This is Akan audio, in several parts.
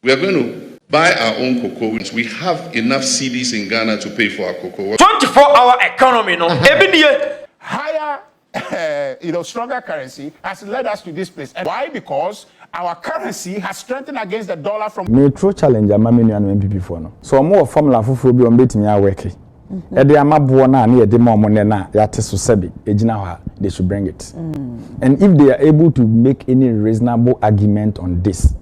We are going to buy our own cocoa wins we have enough cedis in Ghana to pay for our cocoa water. Twenty four hour economy no ebi nie. Higher you know, stronger currency has led us to this place. And why? Because our currency has strengthened against the dollar from. Me tro challenge ama me nua nom NPP foɔ no. Sɛ ɔmo wɔ formula foforɔ bi a ɔmo bɛtumi a worke ɛde ama boɔ no a ne yɛde ma ɔmo nnɛ no a yɛate so sɛbe ɛgyina hɔ a they should bring it. And if they are able to make any reasonable argument on this.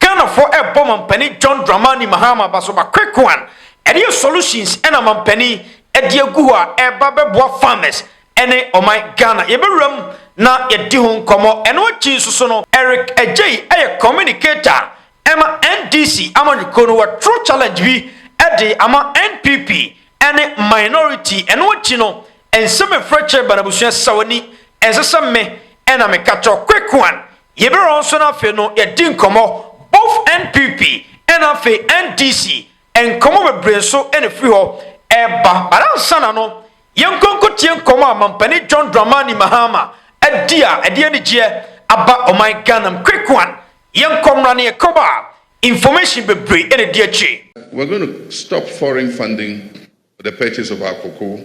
Ghanafoɔ rebɔ Mampanin John Dramani Mahama Basoba Quick One ɛdeɛ solutions na Mampanin ɛde agu hɔ a ɛreba bɛboa farmers ɛne ɔman Ghana yɛbɛwura mu na yɛadi ho nkɔmmɔ ɛno akyi nso so no Eric Adjei ɛyɛ communicator a ɛma NDC amanyɔkuo no waturo challenge bi ɛde ama NPP ɛne minority ɛno akyi no nsɛm ɛfiri akyire ba no abusua sawani ɛnsɛ sɛ me ɛna meka kyerɛ wo Quick One Yɛbɛrɛ wɔn nso na afei no yɛdi nkɔmmɔ both NPP ɛna afei NDC nkɔmmɔ bebree nso ɛna firi hɔ ɛreba but ansa na no yɛnkɔ nkɔtie nkɔmmɔ a Mampanin John Dramani Mahama adi a ɛde anigyeɛ aba ɔman Ghana mu quick one yɛnkɔ mmra na yɛkɔba a information bebree ɛna di akyire. We're going to stop foreign funding for the purchase of our cocoa.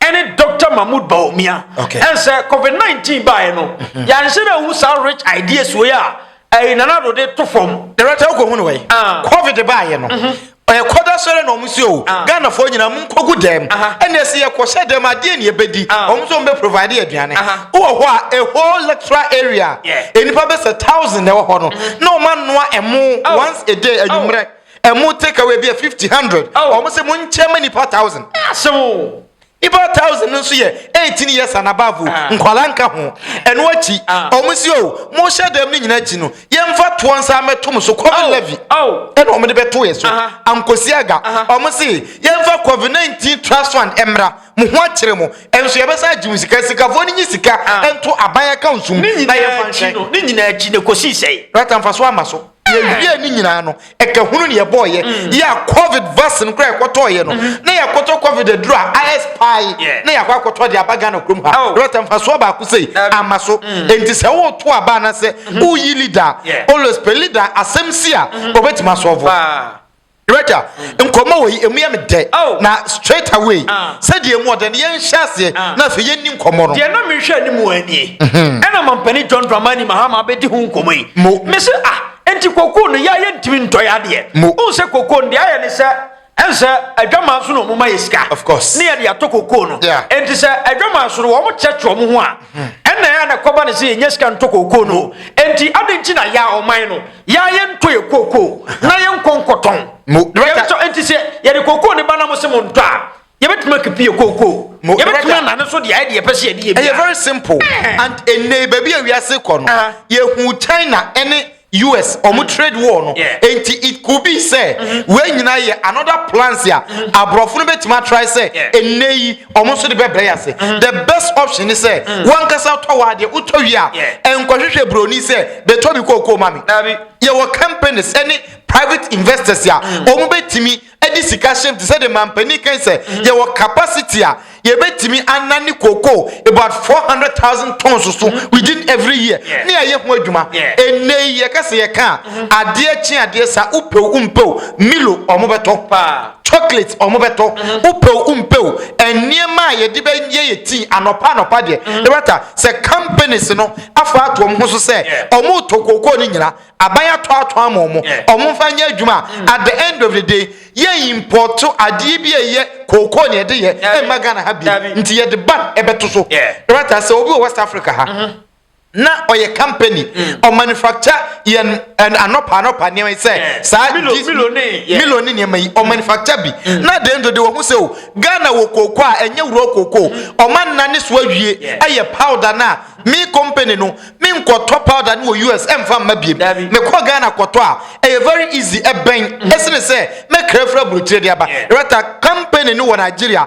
ɛne dɔkta mahmood baomia ɛnsɛ covid 19 baeɛ no mhm. yɛanhyɛ dɛ hu saa rich ideas wei a ɛyi nanado de to fam dɛrɛtɛ wokɔhu no wɛ ah. covid baeɛ no mhm. ɛkɔda sɔrɛ na ɔmo si o ah. ghanafoɔ nyinaa mo nkɔgu dɛm ɛna ɛsi yɛkɔhyɛ dɛm adeɛ ne yɛbɛdi ah. ɔmo nso ɔmo provide aduane wowɔ hɔ a a whole lecturer area nnipa bɛsɛ thousand na ɛwɔ hɔ no mhm. na ɔmo anoa ɛmo oh. once a day anwummerɛ oh. Ɛmu take away bi yɛ fifty hundred. Wɔn sɛ mo nkyɛn ma nipa thousand. Asew. Nipa thousand no nso yɛ eighteen years and above o. Ah. Nkwadaa nka ho. Ɛno akyi. Ah. Wɔn si o mo hyɛ dɛm ne nyinaa akyi no yɛmfa toɔ nsa mɛto mo so covid levy. Ɛna wɔn de bɛto yɛ so. Ankosi aga. Wɔn si yɛmfa covid nineteen trust fund ɛmra mo ho akyerɛ mo. Ɛnso yɛbɛsa agye mo sika sikafoɔ ne nye sika ɛnto aban account mu. Ne nyinaa akyi no ne nyinaa akyi no kɔsi sɛn. Rata nfa so ama so. yɛwie ne nyinaa no ɛka hunu ne yɛbɔɔyɛ mm. yɛ a covid vaccine koraa ɛkɔtɔɔyɛ no mm-hmm. na yɛkɔtɔ covid aduru a ayɛs pae na yɛakɔ akɔtɔ de aba ghana kurom ha oh. rɛta mfasoɔ baako sei ama so mm. enti sɛ woto aba anasɛ mm-hmm. woyi leader always pɛ leader asɛm si a ɔbɛtumi mm-hmm. asɔɔvo Rachel, nkɔmmɔ wɔ yi, emu yɛ me dɛ. Oh. Na straight away, ah. sɛ deɛ emu ɔdɛ no yɛnhyɛ aseɛ ah. na afei yɛnni nkɔmmɔ no. Deɛ na mehwɛ anim wɔ anie. Mhm. Ɛna mampanin John Dramani Mahama abɛdi ho nkɔmmɔ yi. Mo. Mese ah, enti kokoo no yɛ ayɛ ntumi ntɔ yɛ adeɛ. Mo. Wohu sɛ kokoo no deɛ ayɛ ne sɛ ɛnsɛ adwaman so na wɔn ma yɛ sika. Of course. Ne yɛde atɔ kokoo no. Yeah. Enti sɛ adwaman so no wɔn kyerɛkyerɛ wɔn ho a. Mhm. Ɛna ɛyɛ na kɔba ne sɛ yɛnyɛ sika ntɔ kokoo no. Enti adi nti na yɛ a ɔman no. Yɛ a yɛntɔ yɛ kookoo na yɛnkɔ nkɔtɔn. Yɛbɛtɔ nti sɛ yɛde kookoo ne ba na mo se mo ntɔ a, yɛbɛtumi akepi yɛ kookoo. Yɛbɛtumi anane so de ayɛ deɛ yɛpɛ sɛ yɛde yɛ biara. Ɛyɛ very simple and ɛnnɛ yi baabi a wiase kɔ no, yɛhu China ne US wɔn trade war no, nti it could be sɛ wei nyinaa yɛ another plans a aborɔfo no bɛtumi atry sɛ ɛnnɛ yi wɔn nso de bɛbrɛ ase mm-hmm. the best option is sɛ mm. wankasa tɔ wɔ adeɛ wotɔ wie a nkɔhwehwɛ buroni sɛ bɛtɔ bi kookoo ma me yɛwɔ companies ɛne private investors a mm. wɔn bɛtumi ɛde sika hyɛm te sɛ de mampanin kan sɛ mm-hmm. yɛwɔ capacity a yɛbɛtumi anan ne kookoo about four hundred thousand tons so mm-hmm. within every year ne ɛyɛ ho adwuma ɛnɛ yi yɛka sɛ yɛka a adeɛ kye adeɛ sa wopɛw wompɛw milo wɔn bɛtɔ paa. chocolate ɔmo bɛtɔ wopɛ o wompɛ o nneɛma a yɛde bɛyɛ yɛ tea anɔpa anɔpa deɛ ɛbɛta sɛ companies no afa ato ɔmo ho so sɛ ɔmo tɔ kookoo no nyina aban atɔ atɔ ama ɔmo ɔmo mfa nyɛ adwuma a at the end of the day yɛ import adeɛ bi a ɛyɛ kookoo na yɛde yɛ ɛmma Ghana ha bi nti yɛde ban ɛbɛto so ɛbɛta sɛ obi wɔ West Africa ha. na ɔyɛ company mm. ɔmanufacture yɛn anɔpa anɔpa nneɛma yi sɛ saa milo ne nneɛma yi ɔmanufacture bi mm. na deɛ nso de wɔn ho sɛ o ghana wɔ kooko a ɛnyɛ wuro kooko mm. ɔma nna ne so awie ɛyɛ powder na me company no me nkɔtɔ powder no wɔ us ɛnfa mma biem mekɔ ghana kɔtɔ a ɛyɛ very easy ɛbɛn ɛsene sɛ mɛkra fira burokyire de aba rata company no wɔ nigeria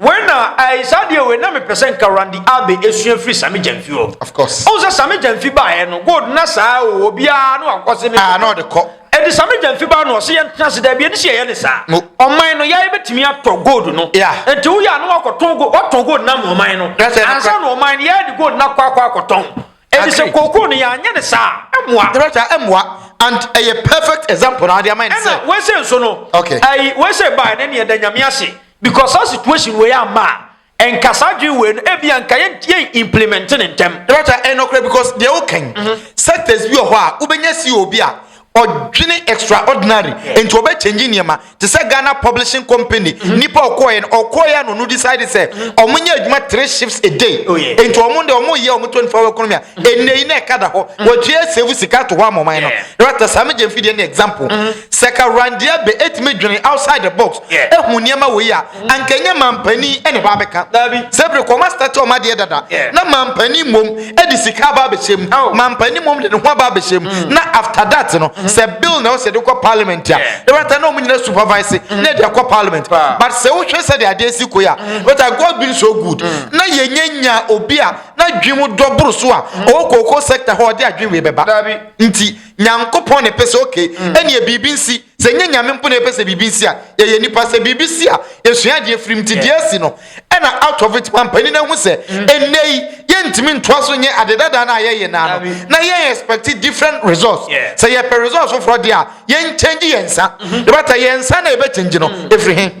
Wei na ɛɛ saa deɛ wei na mepɛ sɛ nka Randy Abe esua firi Sami Gyamfi hɔ. Of course. Ɔn sɛ Sami Gyamfi baeɛ no gold na saa o obiara no akɔ se mi. Aa ah, na ɔde kɔ. Ɛdi Sami Gyamfi baa no ɔse yɛn tena se dɛbi ɛni si ɛyɛ ne saa. No. Ɔman no yɛayɛ betumi atɔ gold no. Yeah. Nti wo yɛ ano akɔ tɔn gold ɔtɔn gold na mu ɔman no. That's it. Ansa na ɔman no yɛayɛ de gold na kɔ akɔ akɔ tɔn. Ɛdi sɛ kookoo no yɛanyɛ ne saa ɛmoa. Ɛbɛ saa ɛmoa and ɛyɛ perfect example na adi ama yɛn sɛ. Ɛna wɛsɛ nso no. Okay. Ayi wɛsɛ baa ɛnɛ ni ɛda nyame ase. Because saa situation wei amma a, nka saa adwene wei no ebi anka yɛn yɛn implement ne ntɛm. Ɛbɛta ɛyɛ nɔkorɛ because deɛ wokan mhm. sectors bi wɔ hɔ a wobɛnya si obi a ɔdwene extraordinary nti ɔbɛ change nneɛma te sɛ Ghana publishing company mhm. nipa ɔkɔɛ no ɔkɔɛ no no decide sɛ mhm. ɔmo nyɛ adwuma three shifts a day oh, nti ɔmo de ɔmo yɛ ɔmo twenty four hour economy a ɛnna yi na ɛka da hɔ wɔtua save sika to hɔ ama ɔman no ɛbɛta saa mi gye nfi deɛ ne example. Sɛ Karandeɛ bɛ ɛtumi dwene outside the box ɛhu nneɛma wei a, anka ɛnyɛ manpanin ɛna ɛba abɛka. Sɛ bere kɔ ɔma start ɔma deɛ dada, na manpanin mmom ɛde sika aba abɛhyɛ mu, oh. manpanin mmom de ne ho aba abɛhyɛ mu, mm. na after that no, mm. sɛ bill na ɔsɛ de kɔ parliament a, ɛbɛta na ɔmo nyina supervise mm. na ɛde akɔ parliament. But sɛ wohwɛ sɛ de adeɛ si koe a, ɛbɛta God been so good, mm. na yɛnyɛ nya obi a na dwi mu dɔ boro so a, ɔwɔ mm. kooko sector hɔ ɔde adwi wei bɛba. Nti, Nyankopɔn na ɛpɛ sɛ okay mm. ɛneɛ biribi nsi sɛ nyɛ nyame mpo na ɛpɛ sɛ biribi nsi a yɛyɛ nipa sɛ biribi si a yɛsua adeɛ firim nti deɛ asi no ɛna out of it mampani no ahu sɛ mm. ɛnnɛ yi yɛntumi ntoa so nyɛ ade dada no a yɛyɛ naa no na yɛn expect different results sɛ yɛpɛ results foforɔ deɛ a yɛnkyɛngye yɛn nsa mm-hmm. yɛbɛta yɛn nsa na yɛbɛkyɛngye no ɛfiri mm. he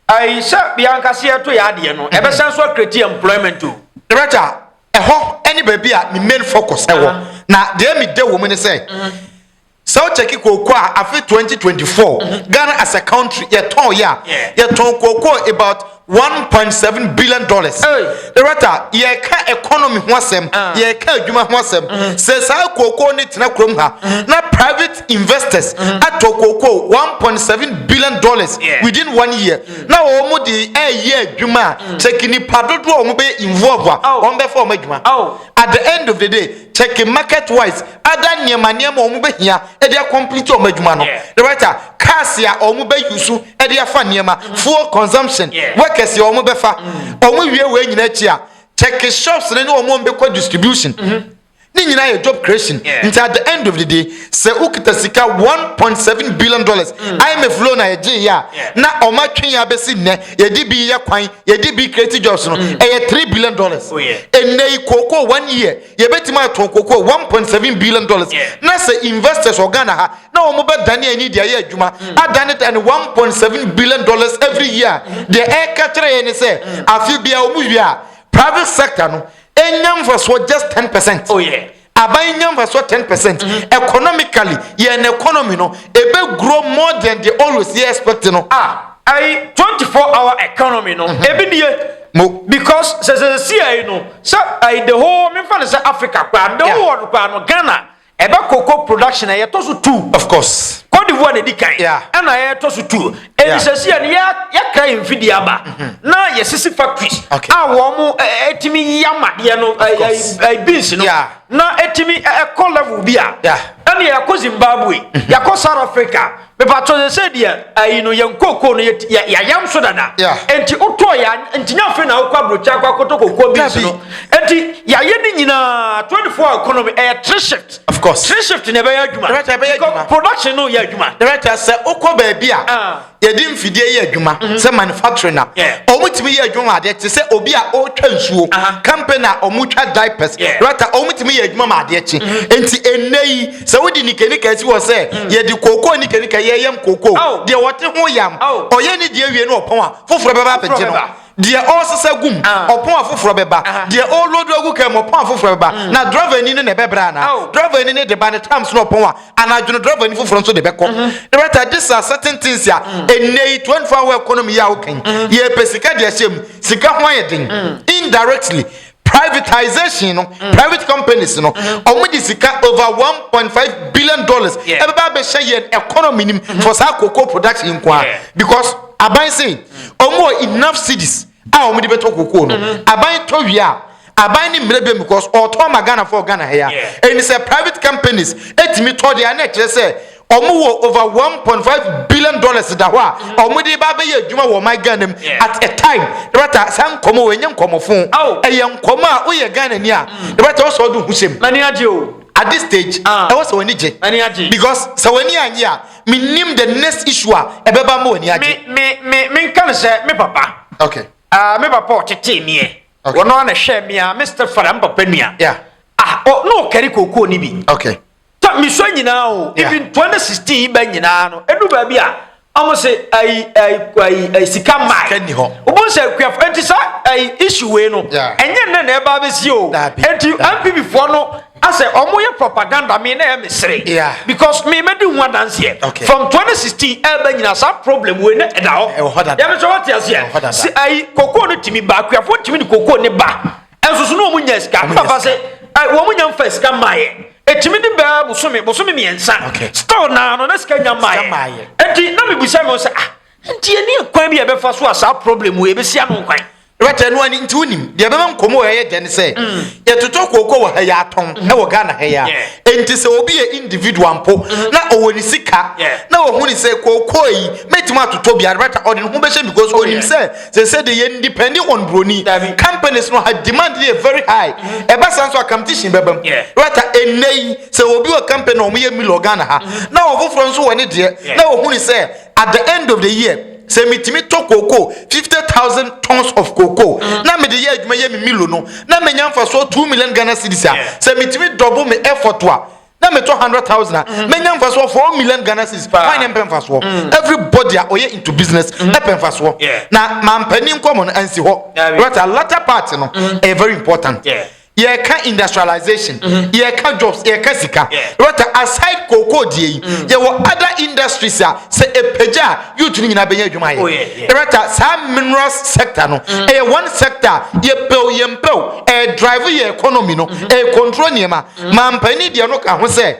Ai sɛ bia nka sɛ yɛto yɛ adeɛ no ɛbɛsan so akreti employment o. Director, ɛhɔ ne baabi a me main focus wɔ na deɛ me da wɔ mu ne sɛ sɛ wo check kooko a afe 2024 Ghana as a country yɛ tɔn yɛ a yɛ tɔn kooko about 1.7 billion dollars. Director, yɛ ka economy ho asɛm, yɛ ka adwuma ho asɛm, sɛ saa kooko ne tena kurom ha na private. investors mm-hmm. atɔ kookoo one point seven billion dollars within one year mm. na wɔn de ɛyɛ adwuma a mm. kyɛkɛ nipa dodoɔ a wɔn bɛ involve a oh. wɔn bɛ fɔ wɔn adwuma oh. at the end of the day kyɛkɛ market wise ada nneɛma nneɛma wɔn bɛ hia ɛde akɔmplete wɔn adwuma no the right a cars a wɔn bɛ use ɛde afa nneɛma mm. fuel consumption workers a wɔn bɛ fa wɔn wie wɔn nyinaa akyi a kyɛkɛ shops ne ne wɔn bɛ kɔ distribution. Mm-hmm. Ne nyinaa yɛ job creation. Nti at the end of the day, sɛ wokita sika 1.7 billion dollars mm. IMF loan a yɛgye yɛ a na ɔma twe yɛ abɛsi nnɛ yɛde bi yɛ kwan yɛde bi create jobs no mm. ɛyɛ 3 billion dollars. Oh, Ɛnnɛ yi kooko one year yɛbɛtumi atɔn kooko 1.7 billion dollars na sɛ investors wɔ Ghana ha na wɔn bɛdane ani de ayɛ adwuma mm. adane dane 1.7 billion dollars every year deɛ ɛka kyerɛ yɛ ne sɛ afe biara wɔn wie a private sector no Ɛnya mfasoɔ just ten percent. Oh yeah. Aban nya mfasoɔ ten percent. Mm -hmm. Economically, yɛn economy no, ebe grow more than the always yɛ expect no. Ah, ayi twenty four hour economy no, mm -hmm. ebi nie. Mo. Because sɛ sɛ si ayi no, sɛ ayi the whole, mi nfa ne sɛ Africa kura, the whole world kura no, Ghana. Ɛba cocoa production a yɛ tɔ so two. Of course. Cote d'Ivoire na edi kan. Yeah. Ɛna yɛ tɔ so two. Yeah. Ɛni sɛsi yɛ no yɛ yɛkra yɛn mfidie aba. Mm-hmm. Na yɛ sisi factories. Okay. A wɔn mo ɛtumi yi amadeɛ no ɛɛ beans no. Yeah. Na ɛtumi ɛkɔ level bi a. Yeah. Ɛni yɛ kɔ Zimbabwe. Mm-hmm. Yɛ kɔ South Africa. mepatɔ sɛ sɛ deɛ ayi no yɛn kookoo no yɛayam so dada nti wotɔɔ yɛ nti nya afei na wokɔ aburokyi akɔ akɔtɔ kookoo beans no nti yɛayɛ ne nyinaa 24 hour economy ɛyɛ eh, three shift of course three shift na ɛbɛyɛ adwuma production no yɛ adwuma director sɛ wokɔ baabi a ah. yɛde mfidie yɛ adwuma mhm. sɛ manufacturing na wɔn tumi yɛ adwuma adeɛ te sɛ obi a ɔretwa nsuo company a wɔn twa diapers director wɔn tumi yɛ adwuma ma adeɛ kye mhm. nti ɛnɛ yi sɛ wode nikanika si hɔ sɛ hmm. yɛde kookoo nikanika yɛyam kookoo deɛ wɔte ho yam ɔyɛ ne deɛ wie no ɔpɔn a foforɔ bɛba abɛgye no deɛ ɔresesa gum ah. ɔpɔn afoforɔ bɛba ah. deɛ ɔrelodo agu kan mu ɔpɔn afoforɔ bɛba hmm. na driver ni no na ɛbɛbrɛ ana driver ni no de ba ne times no ɔpɔn a anadwono driver ni foforɔ nso de bɛkɔ hmm. dɛbɛta this are certain things a ɛnɛ yi twenty four hour economy yi a wokan yɛpɛ sika deɛ hyɛ mu sika ho ayɛ den indirectly privatization no mm. private companies no mm-hmm. wɔn de sika over one point five billion dollars ɛbɛba abɛhyɛ yɛn economy nim mm-hmm. for saa cocoa production nko a because aban se mm. wɔn wɔ enough cities a wɔn de bɛtɔ cocoa no mm-hmm. aban tɔ wia aban ne mmerɛ bɛm because ɔtɔ ma ghana fɔ ghana ha ya ɛni sɛ private companies ɛtumi tɔ deɛ ɛna ɛkyerɛ sɛ Ɔmo wɔ over one point five billion dollars da hɔ a ɔmo de ba abɛyɛ adwuma wɔ ɔman Ghana mu Yeah. at a time. Dɔkta, saa nkɔmɔ wɔ ɛnyɛ nkɔmɔ fo. Ao. Ɛyɛ nkɔmɔ a woyɛ Ghana ni a, dɔkta ɔsɛ ɔde ho sɛm. M'ani agye o. At this stage, Ah. ɛwɔ sɛ w'ani gye. M'ani agye. Because sɛ w'ani annye a, me nim the next issue a ɛbɛba ama w'ani agye. Me me me me nka no sɛ me papa. Okay. Ah, me papa a ɔtetee meɛ Okay. wɔno a na ɛhwɛɛ me a me stepfather me papa nua Yeah. ah, ɔ, na ɔkari kookoo no bi Okay. ta mesua nyinaa o even 2016 yi ba nyinaa no ɛdu baabi a ɔmo se ayi ayi ayi ayi sika mmaa sika ni hɔ ɔmo sɛ akuafo eti sa ayi issue wei no ɛnyɛ nnɛ na ɛba abɛsi o eti npp foɔ no asɛ ɔmo yɛ propaganda mi na ɛyɛ mesere because mi mɛ di ho adanseɛ from 2016 ɛba nyinaa saa problem wei na ɛda hɔ yɛmɛ sɛ wɔte aseɛ si ayi koko no tumi ba akuafo tumi ni koko ne ba. ɛnsoso na wɔn nya sika papa se wɔn nya nfa sika mmaayɛ ɛtumi de bɛɛ bosome bosome mmiɛnsa still naa no na sika nya mmaayɛ ɛnti na mebisa me sɛ ah nti ɛni kwan bi a ɛbɛfa so a saa problem wɔ ɛbɛsi ano kwan wɛtɛ no ani nti wonim deɛ ɛbɛma nkɔmmɔ wɔ ɛyɛ dɛn sɛ mm. yɛtotɔ kooko wɔ ha yɛ atɔn mm. ɛwɔ ghana ha yɛ a ɛnti sɛ obi yɛ individual mpo mm-hmm. na ɔwɔ ne sika na ɔhu ne sɛ kooko yi mɛtumi atotɔ biara wɛtɛ ɔde ne ho bɛhyɛ because oh, ɔnim sɛ They say they yɛ depend on broni. Dabi. Companies no ha demand yɛ very high. Mm-hmm. Ɛba saa nso a competition bɛba mu. Yeah. Right a ɛnna yi sɛ obi wɔ company na wɔn yɛ million Ghana ha mm-hmm. na ɔfoforɔ nso wɔ ne deɛ na ohuni sɛ at the end of the year sɛ metumi tɔ cocoa fifty thousand tons of cocoa mm-hmm. na mede yɛ adwuma yɛ me million no na menya nfa so two million Ghana cedis a sɛ metumi double me effort a na metɔ hundred thousand a mm. menya nfasoɔ four million ghana cedis wan ne mpɛ nfasoɔ mm. everybody a ɔyɛ into business mm. ɛpɛ nfasoɔ na mampanin nkɔmɔ no ansi hɔ rata latter part no ɛyɛ very important yɛka industrialization mm-hmm. yɛka jobs yɛka sika rata aside kookoo die yi yɛwɔ other industries a sɛ ɛpagya a youth no nyinaa bɛnya adwuma yɛ rata saa mineral sector no ɛyɛ one sector yɛpɛw yɛmpɛw ɛdrive yɛ economy no ɛcontrol nneɛma Mampanin deɛ no ka ho sɛ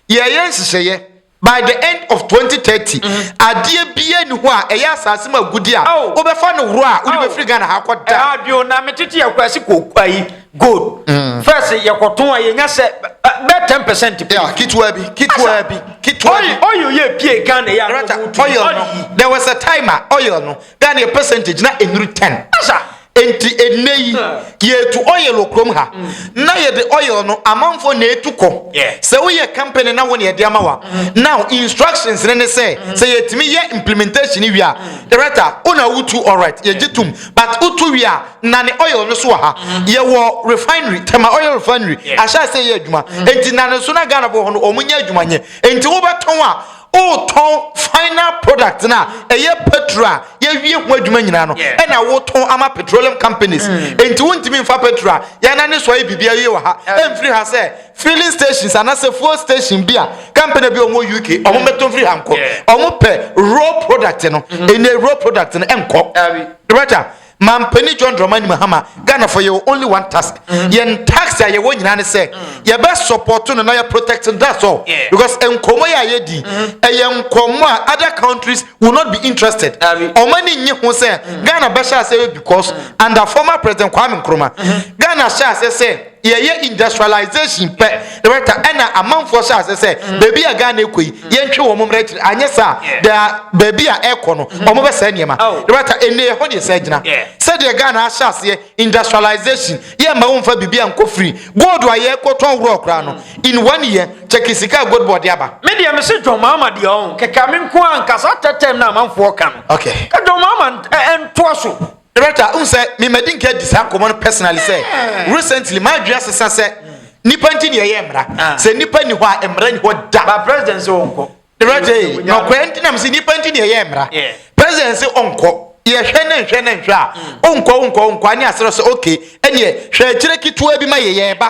yɛyɛ nhyehyɛeɛ by the end of 2030 mm-hmm. adeɛ bia ni hɔ a ɛyɛ asase mu agudi a oh. wobɛfa no worɔ a wode oh. bɛfiri ghana ha kɔ da eh, bio na metete yɛkora se kɔyi eh, gold mm. first yɛkɔtɔn a yɛnya sɛ bɛ 10 percent ketewa bi ketewa bi ketewa bi oil yɛ pie ghana yɛ ano oil no there was a time a oil no ghana yɛ percentage na ɛnuru 10 asa Enti ɛnnɛ yi yɛtu oil wɔ kurom ha mm. na yɛde oil no amanfoɔ na ɛtu kɔ sɛ woyɛ company na wo ne ɛde ama wa mm. now instructions ne ne sɛ mm. sɛ yɛtumi yɛ implementation wie a director wo na wotu alright yɛgye tom but wotu wie a na ne oil no so wɔ ha yɛwɔ refinery tɛma oil refinery ahyɛ sɛ yɛ adwuma enti na ne so na ghanafoɔ hɔ no ɔmo nyɛ adwuma nyɛ enti wobɛtɔn a Wotɔn final product no a ɛyɛ petrol a yɛawie ho adwuma nyinaa no yeah. ɛna wotɔn ama petroleum companies. Mm. Enti wontumi mfa petrol a yɛna ne so ayɛ biribi ayɛ wɔ ha ɛmfiri ha sɛ filling stations anaasɛ fuel station bi a company bi ɔmo UK ɔmo mm. bɛtɔn firi ha nkɔ. Ɔmo pɛ raw product no. Mm-hmm. Ɛnna raw product no ɛnkɔ. Right a. Mampanin John Dramani Mahama, Ghanafoɔ yɛwɔ only one task. Mm-hmm. Yɛn task a yɛwɔ nyinaa ne sɛ mm. yɛbɛ support no na yɛ protect no that's all. Because nkɔmɔ yɛ a yɛdi mm-hmm. ɛyɛ nkɔmɔ a other countries will not be interested. Ɔmo ani nye ho sɛ mm. Ghana bɛhyɛ ase because mm. under former President Kwame Nkrumah Ghana hyɛ ase sɛ. yɛyɛ industrialization pɛ na wɛta ɛna amanfoɔ hyɛ ase sɛ mm. baabi a ghana ɛkɔ yi mm. yɛntwe wɔn mmerɛ kyerɛ anyɛ saa baabi a ɛkɔ no mm. wɔn bɛ sɛ nneɛma na oh. wɛta ɛnna ɛhɔ deɛ sɛ gyina sɛdeɛ ghana ahyɛ aseɛ industrialization yɛ mma wɔn fa biribi a nkɔ firi gold a yɛkɔ tɔn worɔ koraa no in one year kyɛkɛ sika a gold bɔɔde aba. mi deɛ mi si john mahama deɛ ɔn kɛkɛ mi nko ankasa tɛtɛm na amanfoɔ ka no. okay ka john mahama ɛntoa so. Director, wohu sɛ me madi nka adi saa nkɔmmɔ no personally sɛ recently m'adwene asesa sɛ nipa nti ne yɛyɛ mmara. Ah. Sɛ nipa ni hɔ a mmara ni hɔ da. Ba president sɛ ɔnkɔ. Director, eh, nɔkɔɛ nti nam sɛ nipa nti ne yɛyɛ mmara. President sɛ ɔnkɔ. Yɛhwɛ ne nhwɛ ne nhwɛ a, ɔnkɔ ɔnkɔ ɔnkɔ ane asrɛ sɛ okay, ɛneɛ hwɛ akyire ketewa bi ma yɛyɛ ɛba.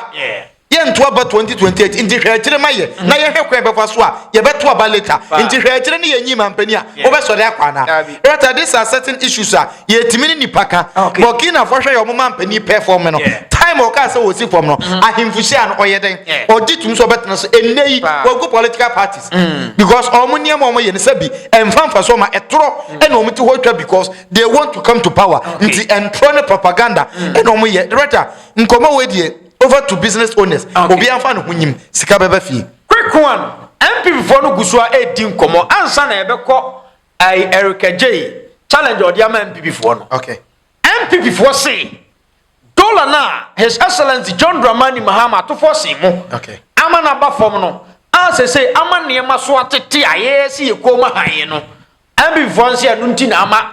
Yɛnto aba 2028 nti hwɛ akyire ma yɛ na yɛhwɛ kwan yɛbɛfa so a yɛbɛto aba later nti hwɛ akyire ne yɛnyii mampanin a wɔbɛsɔre akɔ anaa? Rata these are certain issues a yɛtumi ne nnipa ka. Burkinafoɔ hwɛ yɛ wɔn mampanin pɛ fam no time a ɔkaa sɛ wɔsi fam no ahemfo hyia no ɔyɛ dɛn ɔgye tom sɛ ɔbɛtena so ɛnnɛ yi wagu political parties because wɔn nneɛma a wɔyɛ no sɛbi ɛmfa mfasoɔ ma ɛtorɔ ɛna wɔn ti hɔ twa because they want to come to power nti ɛntorɔ ne propaganda ɛna wɔyɛ Rata nkɔmmɔ wei deɛ over to business owners okay. obi anfa ne ho nyim sika bɛba fie. quick one npp foɔ no gu so a ɛredi nkɔmɔ ansa na ɛbɛkɔ ɛyi erika jay challenge ɔde ama npp foɔ no okay. npp foɔ se dollar na his excellence john dramani mahama atofoɔ se mo okay. ama na ba fam no a sese ama nneɛma so atete a yɛyɛ si yɛ kɔn mu han no npp foɔ nse ɛno nti na ama.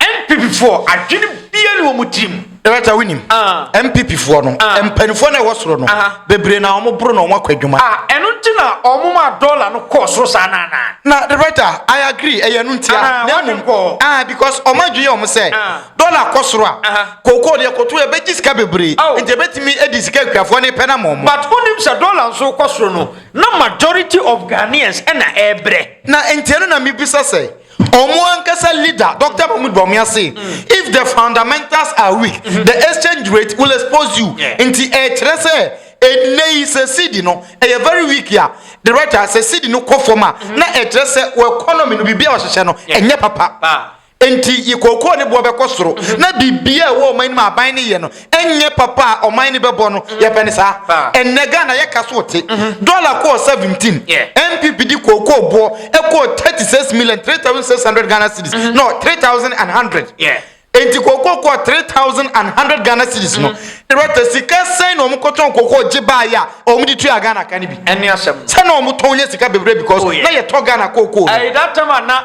NPP foɔ adwene biaa ni wɔn tiri mu. Director wo nim NPP foɔ no mpanifoɔ na ɛwɔ soro no bebree na wɔn boro na wɔn akɔ adwuma. Ah ɛno nti na wɔn maa dollar no kɔɔ soro saa no anaa. Na director I agree ɛyɛ ɛno ntia na mmom ah because wɔn adwene yɛ wɔn sɛ dollar kɔ soro a cocoa no yɛkɔ to yɛbɛgye sika bebree nti ɛbɛtumi adi sika akuafoɔ no pɛ no ama wɔn. But wonim sɛ dollar nso rekɔ soro no na majority of Ghanaians ɛna ɛrebrɛ. Na nti ɛno na mebisa sɛ Ɔmo ankasa leader Doctor Mahmoud Bawumia se if the fundamentals are weak the exchange rate will expose you nti ɛkyerɛ sɛ ɛnnɛ yi sɛ cedi no ɛyɛ very weak a the right a sɛ cedi no kɔ fam a na ɛkyerɛ sɛ wɔ economy no biribi a wɔhyehyɛ no ɛnyɛ papa nti yi kookoo ne boɔ bɛkɔ soro na biribi a ɛwɔ ɔman no mu a aban no yɛ no Ɛnyɛ papa a ɔman no bɛbɔ no yɛpɛ no saa. Ɛnnɛ Ghana yɛka so te. Dɔla kɔɔ seventeen. NPP de kookoo boɔ ɛkɔɔ thirty six million three thousand six hundred Ghana cedis no three thousand and hundred. Enti kookoo kɔɔ three thousand and hundred Ghana cedis no. Director sika sɛn na wɔn kɔtɔn kookoo gye baa yɛ a wɔn de tua Ghana ka no bi. Ɛne asɛm no. Sɛ na wɔn tɔn nya sika bebree because na yɛtɔ Ghana kookoo no. Ɛyɛ that time a na.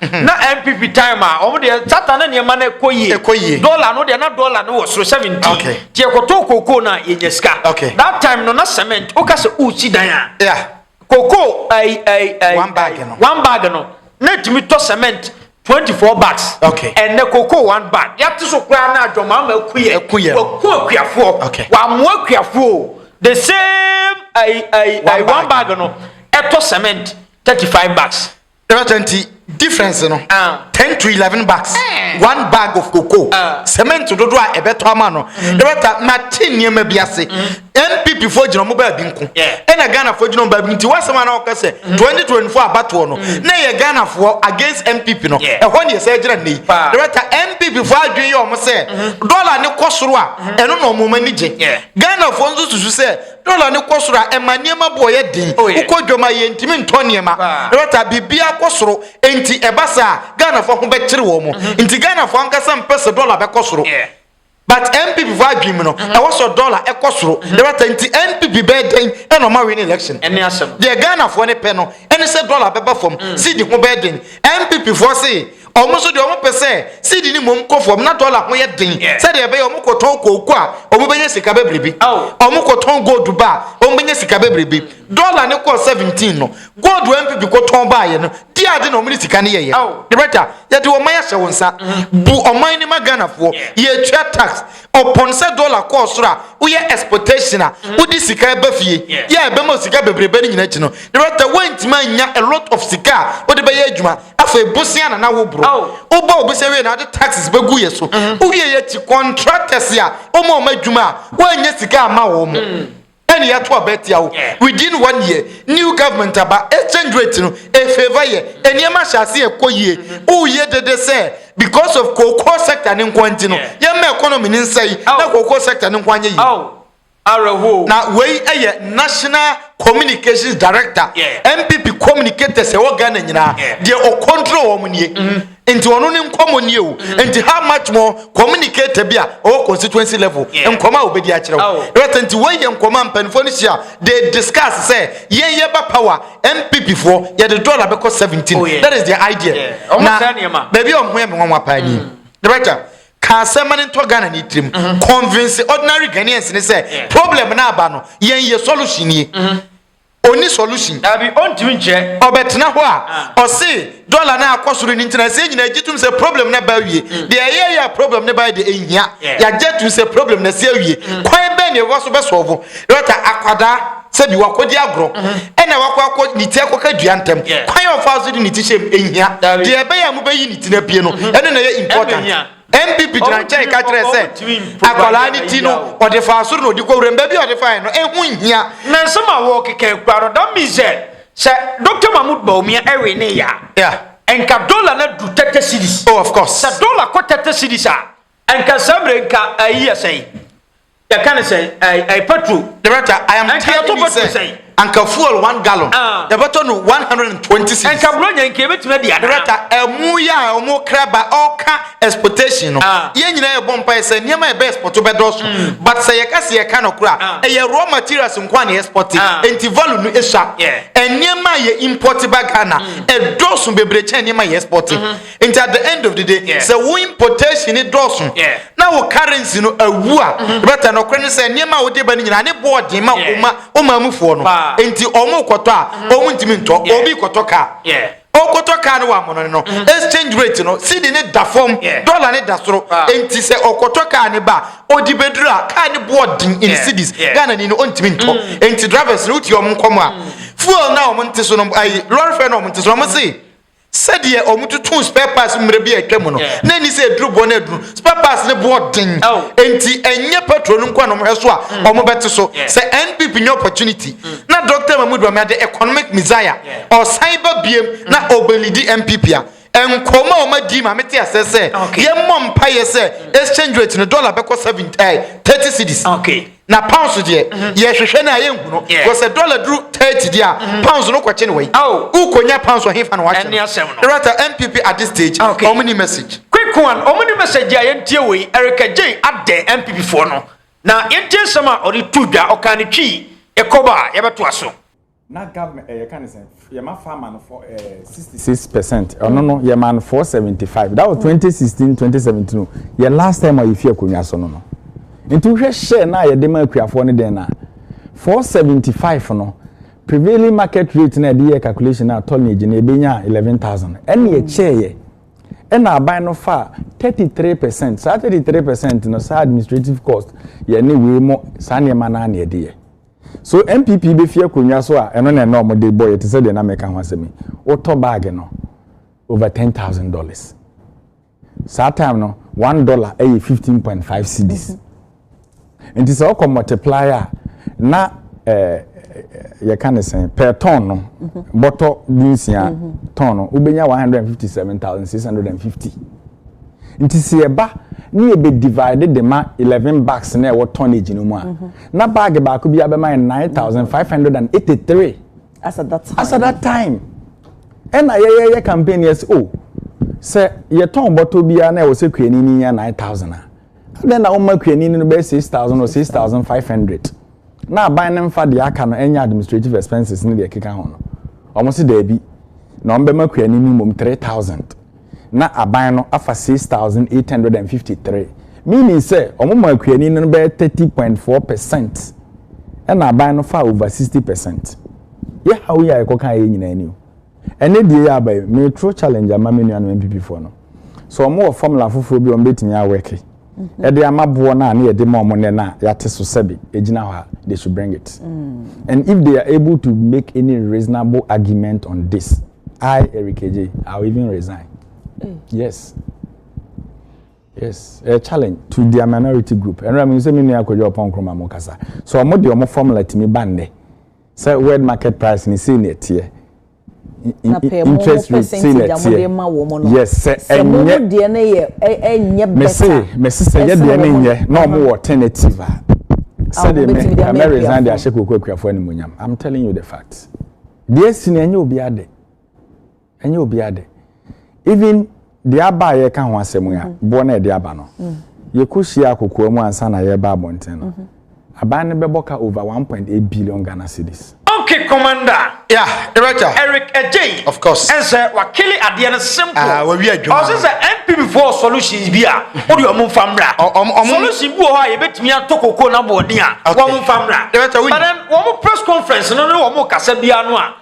Na NPP time a, wɔn deɛ sata na nneɛma no kɔ yie. Ɛkɔ yie. Dɔla no deɛ na dɔla no wɔ soro seventeen. Okay. Nti yɛkɔtɔɔ kokoo no a yɛnya sika. Okay. That time no na cement woka sɛ wosi dan a. Yeah. Kokoo ɛyi ɛyi ɛyi. One bag no. One bag no na etumi tɔ cement twenty four bags. Okay. Ɛnɛ kokoo one bag yɛate so koraa na adwamaama aku yɛ. Aku yɛ. Waku akuafoɔ. Okay. Wamoa akuafoɔ the same ɛyi ɛyi ɛyi one bag no ɛtɔ cement thirty five bags. Ɛbɛ kyɛ nti difference no ah. ten to eleven bags eh. one bag of cocoa ah. cement dodo a ɛbɛtɔ ama no mm. ɛbɛ ta ma te nneɛma bi ase npp mm. fo gyina ɔmo baabi nko ɛna ghana fo gyina ɔmo baabi nti wasɛm a na ɔka sɛ mm. twenty twenty four abatoɔ no na yɛ ghana fo against npp no ɛhɔ ne yɛsɛ gyina ne yi ɛbɛ ta npp fo adwene yɛ ɔmo sɛ mm-hmm. dɔla ne kɔ soro a mm-hmm. ɛno na ɔmo ani gye ghana fo nso susu sɛ. Dɔla no kɔ soro a, ɛma nneɛma boɔ yɛ den. Oh, yeah. Wokɔ dwam a, yɛntumi ntɔ nneɛma. Paa. Right a, biribiara kɔ soro. Enti ɛba saa a, Ghanafoɔ ho bɛkyere wɔn. Mm-hmm. Enti Ghanafoɔ ankasa mpɛ sɛ dɔla bɛkɔ soro. Yeah. But NPP foɔ adwene mu no, mm-hmm. ɛwɔ sɛ dɔla ɛkɔ soro. Mm-hmm. Right a, nti NPP bɛyɛ dɛn ɛna ɔma win election? Ɛne asɛm. Deɛ Ghanafoɔ no pɛ no, ɛne sɛ dɔla bɛba fam. Mm. Sidi ho bɛyɛ den. NPP foɔ se Wɔn nso deɛ wɔpɛ sɛ seed no mmom kɔ fam na dɔla ho yɛ den sɛdeɛ ɛbɛyɛ wɔkɔtɔn kooko a wɔbɛnya sika bebrebe. Wɔkɔtɔn gold ba a wɔbɛnya sika bebrebe. Dɔla no kɔɔ 17 no, gold a MPP kɔtɔn baeɛ no, deɛ ade na wɔde sika no yɛeɛ. Director, yɛde ɔman ahyɛ wo nsa. Bu ɔman no ma Ghanafoɔ. Yɛtua tax. Ɔpon sɛ dollar kɔɔ soro a, woyɛ exportation a, wode sika ɛba fie. Yɛ a ɛbɛma wo sika bebrebe no nyinaa akyi no, na ɛwɔ sɛ woantumi annya a lot of sika a wode bɛyɛ adwuma. Afei bosea na na woboro. Wobɔ wo bosea wie no a, wode taxes bɛgu yɛ so. Wowie yɛ akyi, contractors a woma wɔn adwuma a, woannya sika amma wɔn. ɛna yɛato aba atia wo within one year new government aba exchange rate no efeva yɛ nneɛma hyɛ ase ɛkɔ yie woyɛ dede sɛ because of cocoa sector ne nkoa nti no yɛmma economy ne nsɛe na cocoa sector ne nkoa nyɛ yie na wei ɛyɛ national communications director npp communicators ɛwɔ ghana nyinaa deɛ ɔcontrol wɔn nie mm-hmm. nti ɔno ne nkɔmɔ nie o mm. nti how much more communicator bi a ɔwɔ constituency level nkɔmɔ a obedi akyerɛ wo right oh. nti wɔn yɛ nkɔmɔ a mpanimfoɔ no hyia they discuss sɛ yɛn yɛ ba power npp foɔ yɛde dollar bɛkɔ seventeen oh, that is their idea na baabi a ɔmo yɛ mi wɔn wa paa ni director mm. ka asɛm ne ntɔ ghana ne tirim mm-hmm. convince ordinary ghanaians ne sɛ problem na aba no yɛn yɛ solution nie. Mm-hmm. Onni solution. Dabi, ontumi nkyerɛ. Ɔbɛtena hɔ a, ɔse dollar no akɔ soro no nti na ɛsɛ yɛn nyinaa gye tom sɛ problem no aba awie. Deɛ ɛyɛeɛ a problem no baeɛ deɛ ɛnhia. Yɛagye atom sɛ problem no asi awie. Kwan bɛn na yɛbɛfa so bɛsɔlvo? Retta, akwadaa, sɛbi wakɔdi agorɔ, ɛna wakɔ akɔ, ne ti akɔka dua ntɛm. Kwan a ɔfaa so de ne ti hyɛm, ɛnhia. Deɛ ɛbɛyɛ a mobɛyi ne ti no apie no, ɛno na ɛyɛ important. Npp gyina nkyɛn ka kyerɛ sɛ akwadaa no ti no ɔde faa soro na ɔde kɔ wuram, baabi a ɔde faeɛ no ɛho nhia. Na nsɛm a wɔrekeka yi koraa no, that means sɛ sɛ Doctor Mahmoud Bawumia ɛwe ne yɛ a, yeah. nka dollar no adu thirty cedis. Oh, of course. Sɛ dollar kɔ thirty cedis a, nka saa mmerɛ nka ɛyi yɛ sɛn? Yɛka no sɛn? Ɛɛ, ɛyɛ petrol. Director, I am Ɛnka telling yɛtɔ you petrol sɛ sɛn? anka fuel one gallon Ah. yɛbɛtɔ no 120 cedis. Ɛnka Buronya yi nka yɛbɛtumi adi anaa? Director, ɛmo yi a wɔn kra ba ɔka exportation no, Ah. yɛn nyinaa yɛbɔ mpaeɛ sɛ nneɛma a yɛbɛ export bɛdɔɔso. But sɛ yɛka sɛ yɛka no kora Ah. a, ɛyɛ raw materials nko a na yɛ export. Ah. Enti value no esua. Yeah. Nneɛma a yɛ import ba Ghana, ɛdɔɔso bebree kyɛn nneɛma a yɛ export. Nti at the end of the day, yeah. sɛ wo importation ne dɔɔso yeah. na wo currency no awu a mm-hmm. bɛtɛ nɔkorɛ ne sɛ nneɛma a wode ba no nyinaa ne boɔ den ma woma woma mufoɔ no nti ɔmo kɔtɔ a ɔmo mm-hmm. ntumi ntɔ obi kɔtɔ kaa ɔkɔtɔ kaa no wɔ amono no mm-hmm. exchange rate no sidi ne da fam dɔla ne da soro nti sɛ ɔkɔtɔ kaa ne ba ɔdi bɛduru a kaa ne boɔ den in cedis ghana ni no ɔntumi ntɔ mm. nti drivers no wotie ɔmo nkɔm a mm. fuel na ɔmo nte so no ayi lɔre fɛ na ɔmo nte so no ɔmo se Sɛdeɛ wɔtotoo spare parts mmerɛ bi a atwam no, na ɛnni sɛ aduru boɔ no aduru. Spare parts no boɔ den, enti ɛnyɛ petrol no nko a na wɔhwɛ so a wɔbɛte so. Sɛ NPP nya opportunity na Doctor Mahmood Bawumia de economic messiah ɔsan ba biam na ɔbɛlidi NPP a, nkɔmmɔ a wɔadi ma mete aseɛ sɛ yɛmmɔ mpaeɛ sɛ exchange rate no, dollar bɛkɔ seven, eh, thirty cedis. na pounds deɛ mhm. yɛhwehwɛ no a yɛnhu no kɔ sɛ dɔla duru 30 deɛ a mhm. pounds no kɔkye no wai wokɔnya oh. pounds ɔhefa na wakyɛ no rata mpp at this stage ah, ɔmo ni message quick one ɔmo ni message a yɛntie wei erika jay adɛ mpp foɔ no na yɛntie nsɛm a ɔde tu dwa ɔkaa ne twii ɛkɔba a yɛbɛtoa so Na government ɛyɛ ka ne sɛn yɛ ma farmer no fɔ ɛɛ sixty six percent ɔno no yɛ ma no four seventy five that was twenty sixteen twenty seventeen o yɛ last time a yɛ fi akonnwa so no no nti wohwɛ share na yɛ de ma akuafoɔ no den na four seventy five no prevailing market rate na yɛ de yɛ calculation na tonnage na yɛ bɛ nya eleven thousand ɛna yɛ kyɛɛ yɛ ɛna aban no fa thirty three percent saa thirty three percent no saa administrative cost yɛ ne wei mo saa nneɛma naa na yɛ de yɛ. So NPP befi akonnwa so a ɛno na ɛna wɔde bɔ yɛ te sɛ deɛ na meka ho asɛm yi. Wotɔ bag no over ten thousand dollars. Saa time no one dollar ɛyɛ fifteen point five cedis. Nti sɛ ɔkɔ multiply a na ɛɛ yɛka ne sɛn per ton no bɔtɔ dunsia ton no wobɛnya one hundred and fifty seven thousand six hundred and fifty. Nti sɛ ɛba ne yɛ bɛ divide de ma eleven bags na ɛwɔ tonnage no mu a. Na bag baako biara bɛma yɛn nine thousand five hundred and eighty three. as at that time as at that time ɛna yɛyɛ yɛ campaign yɛ sɛ o oh, sɛ yɛtɔn bɔtɔ biara na ɛwɔ sɛ kuani ni nya nine thousand a adɛn na wɔn ma kuani no bɛyɛ six thousand or six thousand five hundred na aban no nfa deɛ aka no ɛnyɛ administrative expenses ne deɛ ɛkeka ho no wɔn si daabi na wɔn bɛma kuani ni mmom three thousand. na aban no afa six thousand eight hundred and fifty three meaning sɛ wɔn maa kuani no bɛyɛ thirty point four percent ɛna aban no fa over sixty percent yɛ haw yi a yɛkɔ kan yɛ nyinaa ni o ɛne deɛ yɛ aba yi metro challenge ama me nua no npp foɔ no so wɔn wɔ formula foforɔ bi wɔn bɛtumi awɛke ɛde mhm. ama boɔ no a ne yɛde ma wɔn nɛ no a yɛate so sɛbi ɛgyina hɔ a they should bring it mm. and if they are able to make any reasonable argument on this I Erikeje, I'll even resign. Mm. Yes. Yes, a challenge to their minority group. And I'm saying, me akɔdwa ɔpɔn kroma mo kasa. So ɔmo de ɔmo formula to me bande. So word market price ni say ne tie. Interest rate say ne tie. Yes, sɛ ɛnyɛ. Me say, me say sɛ yɛ deɛ ne nyɛ na ɔmo wɔ alternative a. Sɛ de me, ɛmɛ resign de ahyɛ koko akuafoɔ animuonyam. I'm telling you the facts. Deɛ asi no ɛnyɛ obiara dɛ. Ɛnyɛ obiara dɛ. Even deɛ aba a yɛka ho asɛm yi a, mm-hmm. boɔ na ɛde aba no. Mm. Yɛkɔhyia akokoa mu ansa na yɛreba abɔnten no. Mm-hmm. Aban no bɛbɔ ka over 1.8 billion Ghana cedis. Okay, commander. Yeah, director. Eric Ejay. Of course. And sir, wakili adeɛ no simple. Ah, uh, wawi adwuma. Ɔsɛ sɛ NPP for solutions bi a. O de wɔn nfa mmra. Solution bi wɔ hɔ a yɛbɛtumi atɔ koko na bɔɔden a wɔn nfa mmra. But then wɔn press conference no ne wɔn kasa biara no a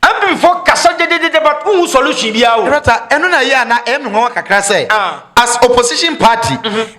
MP fo kasa gyegyegyegye but wohu solution biara o. Dɔkta ɛno na yɛ a na ɛyɛ me nwanwa kakra sɛ as opposition party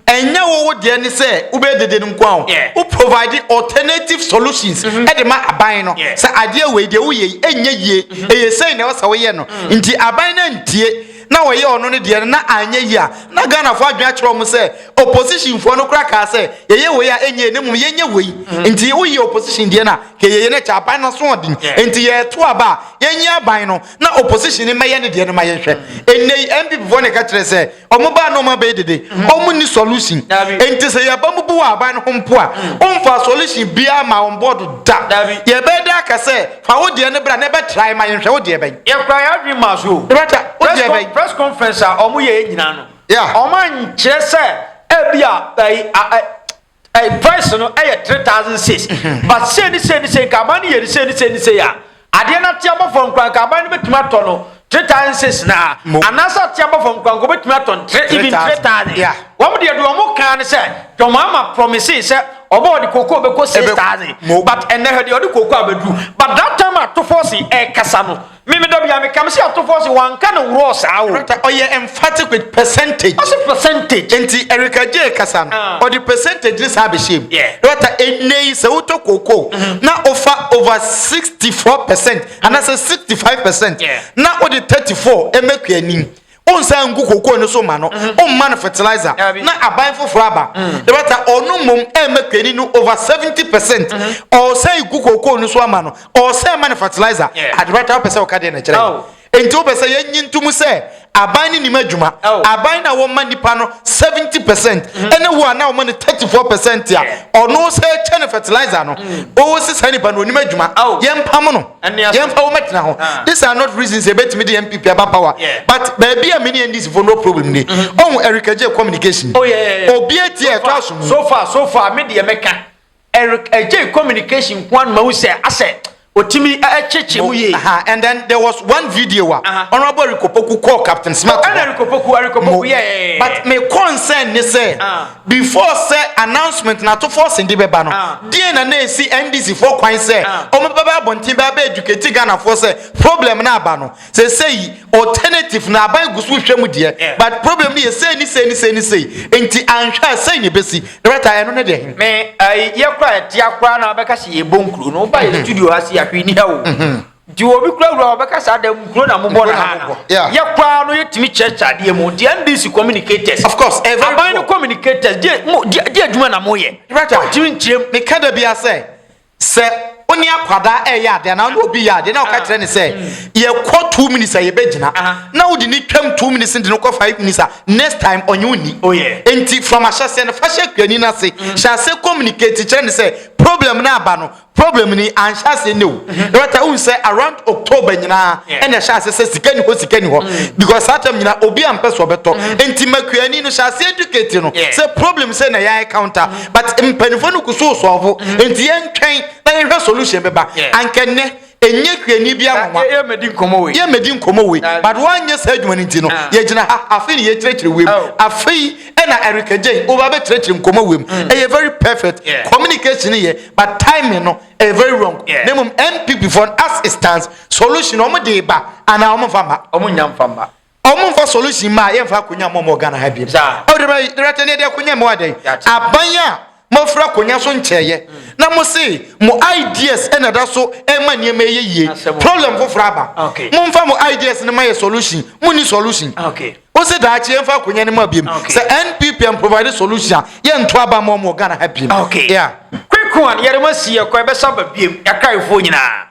ɛnyɛ wo wo deɛ ne sɛ wobɛyɛ dede no nko a o wo provide alternative solutions de ma aban no sɛ adeɛ wei deɛ woyɛ yi ɛnyɛ yie ɛyɛ sei na ɛwɔ sɛ woyɛ no nti aban no antie na wɔyɛ ɔno ne deɛ no na anyɛ yie a na Ghanafoɔ adwene akyerɛ wɔn sɛ oppositionfoɔ no koraa kaa sɛ yɛyɛ wei a ɛnyɛ yie na mmom yɛnyɛ wei nti woyɛ opposition deɛ no a kɛ yɛyɛ no ɛkyɛ aban no asoɔden nti yɛto aba a yɛnyɛ aban no na opposition no mmɛyɛ ne deɛ no ma yɛnhwɛ ɛnnɛ yi NPP foɔ na ɛka kyerɛ sɛ wɔn baa na wɔn abɛyɛ dede wɔn ni solution nti sɛ yɛba mu bu wɔ aban no ho mpo a wɔmfaa solution biara ma wɔn bɔɔdo da yɛbɛyɛ dɛ aka sɛ Fa wo deɛ no bra na yɛbɛ try ma yɛnhwɛ wo deɛ bɛn. Yɛ kura yɛ adwene maa so oo. Yɛbɛ try, wo deɛ bɛn. Press conference a ɔmo yɛɛ nyinaa no. Yeah. Ɔmo ankyerɛ sɛ ɛbi a ɛyi a ɛ ɛyi price no ɛyɛ three thousand six. But sei ne sei ne sei nka aban no yɛ ne sei ne sei ne sei a adeɛ no ate abɔ fam koraa nka aban no betumi atɔ no. Three times six na mo. Anaasɛ ɔte abɔfo nkoanko betumi atɔ no tre even three thousand. Yeah. Wɔn deɛ deɛ wɔn kan ne sɛ John Mahama promise sɛ ɔbɔ ɔde koko bɛkɔ six Ebe- thousand. mo. But ɛnɛ hwɛ deɛ ɔde koko abɛduru. But that time atofo se ɛkasa no me me da bi a me kam se atofo se wanka no worɔ saa o. Rata ɔyɛ emphatic with percentage. Ɔse percentage. Nti Erika Jay kasa no Ah. ɔde percentage ne saa abɛhyɛ mu. Yeah. Rata ɛnɛ yi sɛ wotɔ koko na ofa over 64 percent anaasɛ 65 percent na wode 34 ɛmɛ kua nim wonsan ngu kokoo no so ma no mm-hmm. womma no fertilizer na aban foforɔ aba mm. dɛbɛta ɔno mmom ɛmɛ kua ni no over 70 percent mm-hmm. ɔsɛ gu kokoo no so ama no ɔsɛ ma no fertilizer adebɛta wopɛ sɛ woka deɛ na kyerɛ oh. nti wopɛ sɛ yɛnyi ntom sɛ Aban no nim adwuma. Aban no a wɔma nnipa no seventy percent ɛne wo a na wɔma no thirty four percent a ɔno sɛ ɛkyɛ no fertilizer no ɔwɔ si saa nipa no onim adwuma yɛn mpam no yɛn fa wɔn mɛtena ho this are not reasons ebetumi de NPP aba power but baabi a mini NDC for no problem ni ɔhun Eric Eje communication obi etie ɛtɔ aso mu so far so far me deɛ mɛka Eric Ajay communication nko ara na mahu sɛ asɛ otumi ɛkyekye mu yie. And then there was one video wa. Uh-huh. Honorable Eric Opoku call Captain Smart. Oh, Eric Opoku, Eric Opoku, yeah, yeah, yeah. But my concern ni sɛ uh-huh. before sɛ announcement na to force ndi bɛba no. Uh-huh. Deɛ na na esi NDC fo kwan sɛ wɔn bɛba abɔnten bɛba educate Ghana fo sɛ problem na aba no. Sesei alternative na aban gu so hwɛ mu deɛ but problem no yɛ sei ne sei ne sei ne sei nti anhwɛ a sei na ɛbɛsi. Director ɛno ne deɛn? Me ai yɛ kora ɛtea koraa na wobɛka sɛ yɛbɔ nkuro no woba yɛ studio ha se a hwee ni ha o nti obi kora wura wɔbɛka saa da nkuro na mobɔ na ha no yɛ koraa no yɛtumi kyerɛkyerɛ adeɛ mu nti NBC communicators of course eh, aban no communicators deɛ adwuma na moyɛ wotumi nkyerɛm meka da bia sɛ Sɛ wo ne akwadaa reyɛ adeɛ anaa wo ne obi yɛ adeɛ na woka kyerɛ ne sɛ yɛkɔ two minutes a yɛbɛgyina na wode ne twam two minutes de no kɔ five minutes a next time ɔnye wo ni oh, nti from ahyɛseɛ no fa hyɛ kuani no ase mm. hyɛ ase communicate kyerɛ ne sɛ problem no aba no problem ni anhyɛ ase ne o mm-hmm. ɛbɛta wohu sɛ around october nyinaa ɛna ɛhyɛ ase sɛ sika ni hɔ sika ni hɔ mm. because saa tam nyinaa obi ampɛ so ɔbɛtɔ mm-hmm. nti makuani no hyɛ ase educate no sɛ problem sɛ na yɛayɛ counter mm-hmm. but mpanyinfoɔ no kusu sɔɔfo mm-hmm. nti yɛn twɛn na yɛn hwɛ solution bɛba anka nnɛ enye hwɛni bi anwa yɛ mɛdi nkɔmɔ wei yɛ mɛdi nkɔmɔ wei but wɔanyɛ saa adwuma no nti no ah. yɛgyina ha afei na yɛkyerɛkyerɛ wei mu oh. afei ɛna erika gyɛn wɔba bɛkyerɛkyerɛ nkɔmɔ wei mu mm. ɛyɛ very perfect communication yɛ but timing no ɛyɛ very wrong na mmom npp fɔ as it stands solution wɔn de ba anaa wɔn fa ma wɔn nya nfa ma. Ɔmo nfa solution mma a yɛnfa akonya mma ɔmo wɔ Ghana ha bio. Ɛwɔ dɛm ayi director ne ɛde akonya mma wadɛn? Aban a mo afira akonya so nkyɛɛyɛ na mo se mo ideas ɛna ɛda so ɛma nneɛma ɛyɛ yie. Problem foforɔ aba. Mo nfa mo ideas no ma yɛ solution. Mo nni solution. Wo se daakye yɛn nfa akonya no ma biem. Sɛ NPP ɛn provide solution a yɛn nto aba mma ɔmo wɔ Ghana ha biem. Yeah. Quick one, yɛde mo asi yɛ kɔ ɛbɛsa aba biem. Yɛakra ayɛfoɔ nyinaa.